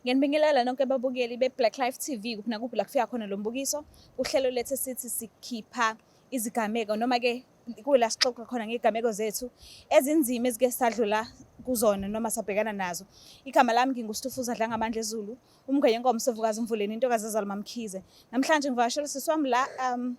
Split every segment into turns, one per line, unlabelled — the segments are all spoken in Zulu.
Ngenibingelela nonke babukeli be-Black Life TV kuphi nakuphi la kufika khona lo mbukiso. Uhlelo lethu sithi sikhipha izigameko noma-ke kuyila sixoxa khona ngezigameko zethu ezinzima ezike sadlula kuzona noma sabhekana nazo igama lami ngingustufuza dla ngamandla ezulu umngwenye inkomo sovukazi umvuleni intokazi ezaluma mkhize namhlanje ngivakashela sisi wami la um,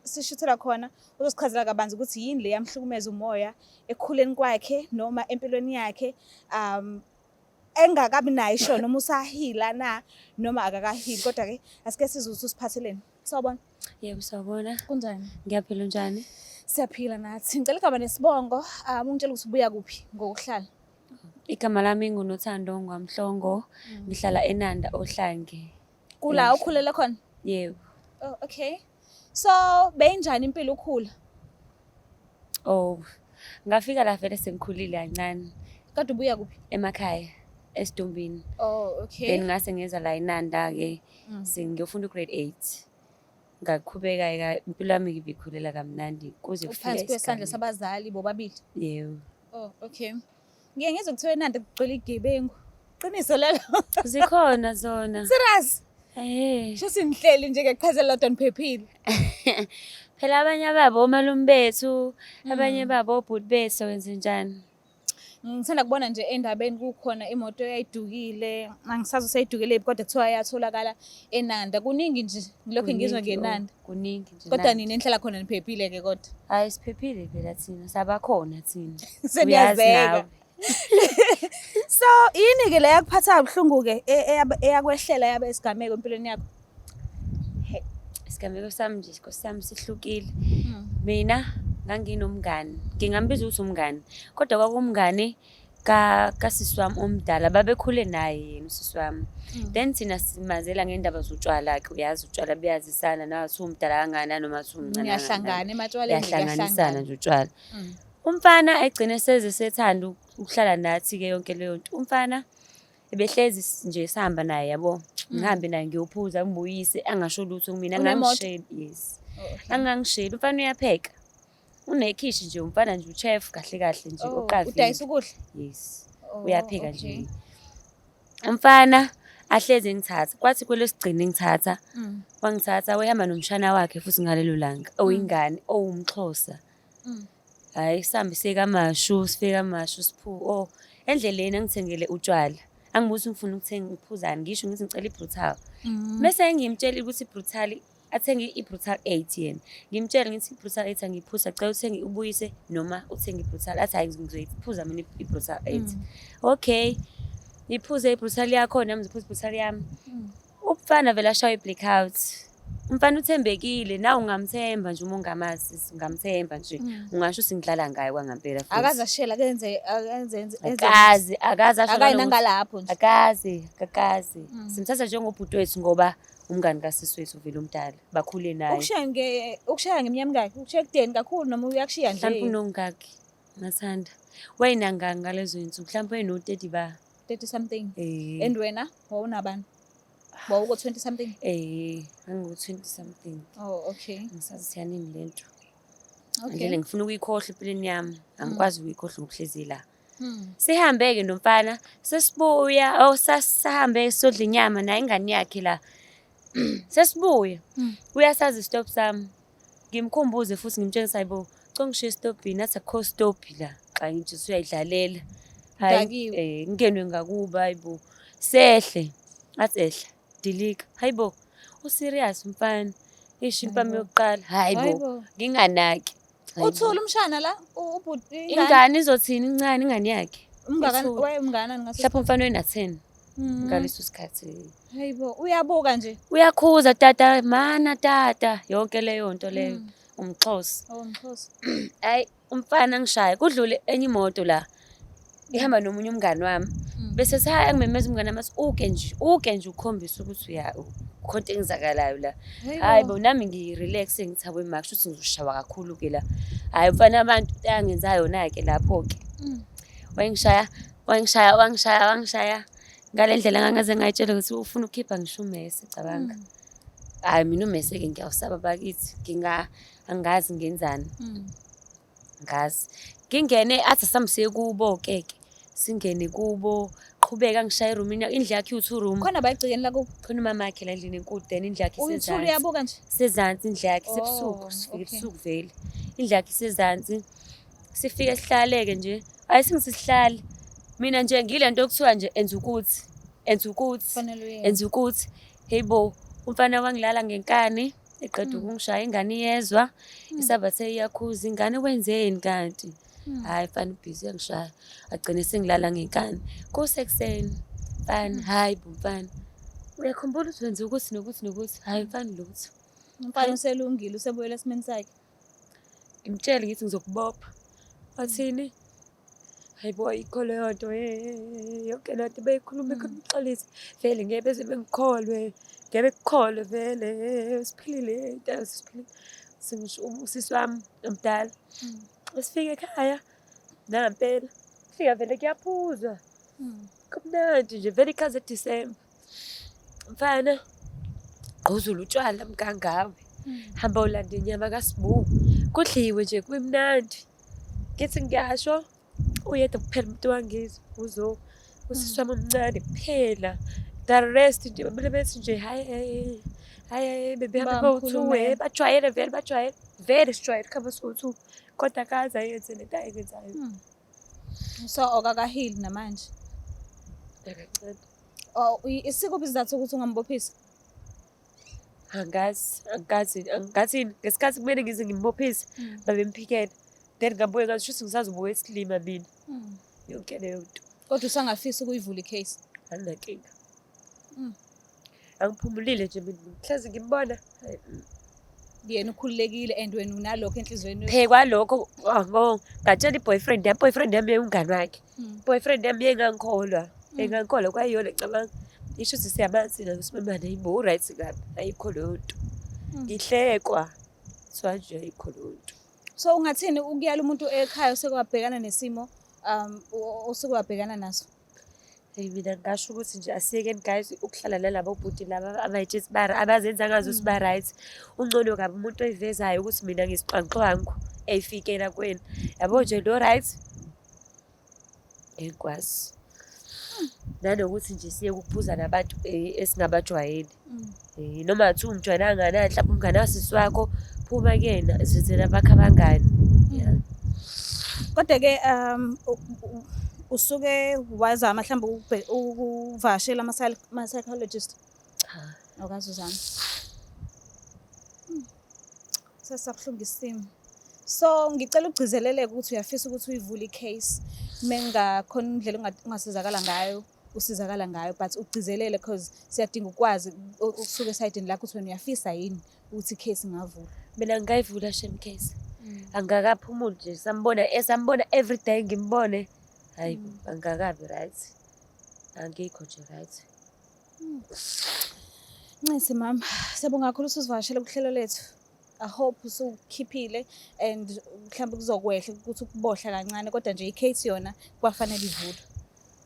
sishuthela khona uzosichazela kabanzi ukuthi yini le yamhlukumeza umoya ekukhuleni kwakhe noma empilweni yakhe um engakabi nayo isho noma usahila na noma akakahili kodwa ke asike sizwe ukuthi usiphatheleni sawubona yebo sawubona
kunjani ngiyaphila
unjani
siyaphila nathi
ngicela igama nesibongo um ungitshela ukuthi ubuya kuphi ngokuhlala igama
lami ngunothando ngwamhlongo mm. ngihlala enanda ohlange kula ukhulele
khona yebo
oh, okay
so beyinjani impilo ukhula
oh ngafika la vele sengikhulile kancane kade ubuya kuphi
emakhaya
esidumbini oh okay
then ngase ngeza la
inanda ke mm. sengiyofunda grade 8 ngaqhubeka eka impilo yami ngibikhulela kamnandi kuze kufike phansi kwesandla sabazali
bobabili yebo oh
okay
Ngiye ngizwe kuthiwa eNanda kugcwele igebengu. Qiniso lelo. Zikhona
zona. Serious?
Eh. Shuthi
nihleli nje ke
qhaze lodwa niphephile.
Phela abanye ababo omalume bethu, abanye Mm. babo obhuti bethu wenze njani? Ngithanda
kubona nje endabeni kukhona imoto eyayidukile. Angisazi useyidukile yiphi kodwa kuthiwa yatholakala eNanda. Kuningi nje ngilokhu ngizwa Kuningi, oh. ngeNanda. kuningi nje kodwa
nina enhlala khona
niphephile ke kodwa hayi siphephile
phela thina sabakhona thina seniyazeka
so yini ke le yakuphatha kabuhlungu ke e, e, eyakwehlela yabe isigameko empilweni yakho isigameko
sami nje sikosi sami sihlukile hmm. mina nganginomngani ngingambiza ukuthi umngani kodwa kwakumngani ka kasisi wami omdala babekhule naye yena usisi wami mm. then thina simazela ngendaba zotshwala ke uyazi utshwala buyazisana nawe siwumdala kangani nanoma siwumncane yahlangana ematshwaleni
yahlanganisana nje utshwala
mm. umfana egcine seze sethanda ukuhlala nathi ke yonke leyo nto umfana ebehlezi nje sihamba naye yabo mm. ngihambe naye ngiyophuza ngibuyise angasho lutho kumina angangisheli yes oh, angangisheli umfana uyapheka unekhishi nje umfana nje uchef kahle kahle nje Oh, uqavile udayisa ukudla yes
Oh,
uyaphika nje okay. umfana ahlezi engithatha kwathi kwelosigcina engithatha Mm, wangithatha wehamba nomshana wakhe futhi ngalelo langa oyingane owumxhosa mm. hhayi sihambe siye kamashu sifike kamashu siphuke o endleleni angithengele utshwala angibuthi ngifuna ukuthenga ukuphuzani ngisho ngithi ngicela ibrutal Mm. mese engimtshelile ukuthi ibrutal athenge i-brutal eight yena ngimtshele ngithi i-brutal eight angiyiphuza cela uthenge ubuyise noma uthenge i-brutal athi hhayi ngizoyiphuza mina i-brutal eight mm. okay ngiphuze i-brutal yakho nami ngiziphuza i-brutal yami mm. umfana vele ashawa i-black out umfana uthembekile na ungamthemba nje uma ungamazi ungamthemba nje mm. ungasho ukuthi ngidlala ngayo kwangampela futhi akaze ashela kenze
enze akazi
akazi asho akayi nangalapho nje
akazi akazi
simthatha njengobhuti wethu ngoba umngani kasisi wethu vele umdala bakhule naye ukushaya nge ukushaya
ngemnyama mngaki ukushaya kudeni kakhulu noma uyakushiya nje mhlawumbe unongaki
ngathanda wayinangaki ngalezo insuku mhlawumbe wayeno 30 ba 30 something
eh and wena wawunabani wawuko 20 something eh angu
20 something oh okay
ngisazi siyanini
lento okay
ngifuna ukuyikhohle
empilweni yami angikwazi mm. ukuyikhohle ngokuhlezi la Hmm. Sihambe-ke nomfana sesibuya oh sahambe sodla inyama naye ingane yakhe la sesibuya hmm. uyasazi stop sami ngimkhumbuze futhi ngimtshengisa hayibo congishiye estobhini athi akho stobhi la xa ngithi usuyayidlalela hayi eh ngenwe ngakuba hayibo sehle athi ehle Dilika. Hayi bo. U serious mfana. Ishi impama yokuqala. Hayi bo. Nginganaki. Uthula umshana
la ubhuti. Ingane izothini
incane ingane yakhe. Umngane waye umngane
ngaso. Mhlawumbe umfana wena 10.
Mm. Ngaleso sikhathi. Hayi bo. Uyabuka
nje. Uyakhuza tata
mana tata yonke leyo nto leyo. Mm. Umxhosa. Oh umxhosa.
Hayi.
umfana angishaye kudlule enye imoto la ngihamba nomunye umngani wami hmm. bese sihaya angimemeza umngani wami athi uke nje uke nje ukhombisa ukuthi uya khona engizakalayo la hayi bo nami ngirelax ngithabwe maka shuthi ngizoshawa kakhulu ke la hayi mfana abantu ayangenza yona ke lapho ke hmm. wayengishaya wayengishaya wangishaya wangishaya ngale ndlela ngangaze ngayitshela ukuthi ufuna ukukhipha ngisho umese cabanga hmm. hayi mina umese ke ngiyawusaba bakithi nginga angazi ngenzani mm. ngazi ngingene athi samsiye kubo keke singene kubo qhubeka ngishaye room indlu yakhe u two room khona bayigcikeni la kubo
khona umama yakhe la ndlini
enkulu then indlu yakhe isezantsi uyabuka nje sezantsi
indlu yakhe
sebusuku oh, sifike ebusuku vele indlu yakhe isezantsi sifike sihlaleke nje ayi singisihlale mina nje ngile nto okuthiwa nje enza ukuthi enza ukuthi enza
ukuthi
heyibo umfana wangilala ngenkani eqeda hmm. ukungishaya ingane iyezwa hmm. isabathe iyakhuza ingane wenzeni kanti hmm. hhayi fana ubhizi uyangishaya agcine sengilala ngenkani kusekuseni fana hhayi bo mfana uyakhumbula ukuthi wenze ukuthi nokuthi nokuthi hhayi mfana lutho umfana
uselungile usebuyela esimeni sakhe ngimtshele
ngithi ngizokubopha wathini hayi bo ayikho leyo nto yonke laa nto beyikhuluma ikhona umxolisi vele ngeke beze bengikholwe ngeke kukholwe vele siphilile intela siphilile singisho usisi wami omdala esifike ekhaya nampela fika vele kuyaphuzwa kumnandi nje vele ikhaze disemba mfana gquzula utshwala mkangawe hmm. hamba ulanda inyama kasibu kudliwe nje kumnandi ngithi ngiyasho uyedwa kuphela umuntu wangizwa uzo usisi wami omncane kuphela the rest nje bamele bethi nje hayi hayi hayi bebehamba bawuthuwe bajwayele vele bajwayele vele sijwayele khaba sowu-two kodwa kaze ayenze le nto ayenzayo hmm.
So okakahili namanje.
Akacela.
Oh, isiko bizathu ukuthi ungambophisa.
Angazi, angazi, angazi ngesikhathi kumele ngize ngimbophise hmm. babemphikela. Then ngabuye ngathi shuthi ngisazobuka isilima mina. Hmm. Yonke leyo nto. Kodwa usangafisa
ukuyivula i-case. Anginankinga. Mm.
angiphumulile nje mina hlezi ngimbona
yena ukhululekile and wena unalokho enhliziyweni yakho. phekwa lokho
wabo ngatshela i-boyfriend yami boyfriend yami yewumngani wakhe Mm. boyfriend yami yengangikholwa Mm. engangikholwa kwayiyona cabanga isho ukuthi siyamanzi ngayo simemane ayibo u-right kabi ayikho leyo nto Mm. ngihlekwa so anje ayikho leyo nto so ungathini
ukuyala umuntu ekhaya osekwabhekana nesimo um o- osekwabhekana naso Eyi mina
ngingasho ukuthi nje asiyekeni guys ukuhlala nalabo bhuti laba abayitshe sibara abazenza ngazo siba mm. right ungcono kabi umuntu oyivezayo ukuthi mina ngisixwanxwangu eyifikela kwena yabo nje lo right engikwazi nanokuthi nje siye ukuphuza nabantu eh, esingabajwayeli Eh, noma ngathi umntwana angana mhlawumbe umngane wasisi wakho phuma kuyena zithela bakho abangani yeah.
Kodwa-ke um u- u- usuke wazama mhlawumbe ukubhe- ukuvakashela ama-psy- ama-psychologist cha
awukaze uzame
Hmm. sesabuhlungu isimo so ngicela ugcizeleleke ukuthi uyafisa ukuthi uyivule i-case uma engakhona indlela onga- ongasizakala ngayo usizakala ngayo but ugcizelele because siyadinga ukwazi ukusuka esayidini lakho ukuthi wena uyafisa yini ukuthi icase ingavula mina ngingayivula
shem case mm. angakaphumuli nje sambona esambona eh, every day ngimbone hayi mm. angakabi right angikho nje right
mm. ncisi mama siyabonga kakhulu usuzivakashela kuhlelo lethu I hope usukhiphile and mhlawumbe kuzokwehla ukuthi ukubohla kancane kodwa nje i-case yona kwafanele ivulwe.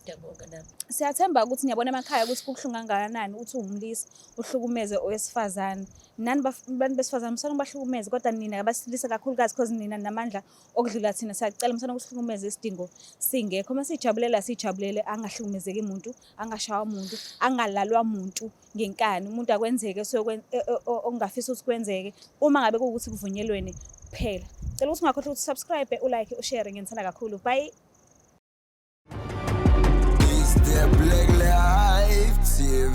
Ngiyabonga
nami. Siyathemba ukuthi niyabona
emakhaya ukuthi kubuhlungu kangakanani ukuthi uwumlisa uhlukumeze owesifazane. Nani baf- bantu besifazane musana ubahlukumeze kodwa nina abasilisa kakhulukazi because nina namandla okudlula thina siyacela musana ukuhlukumeza isidingo singekho. Uma sijabulela sijabulele angahlukumezeki muntu, angashawa muntu, angalalwa muntu. ngenkani umuntu akwenzeke okungafisa ukuthi kwenzeke uma ngabe kuwukuthi kuvunyelwene kuphela cela ukuthi ungakhohlwa ukuthi subscribe ulike ushare ngenithanda kakhulu bye
Is there black life TV?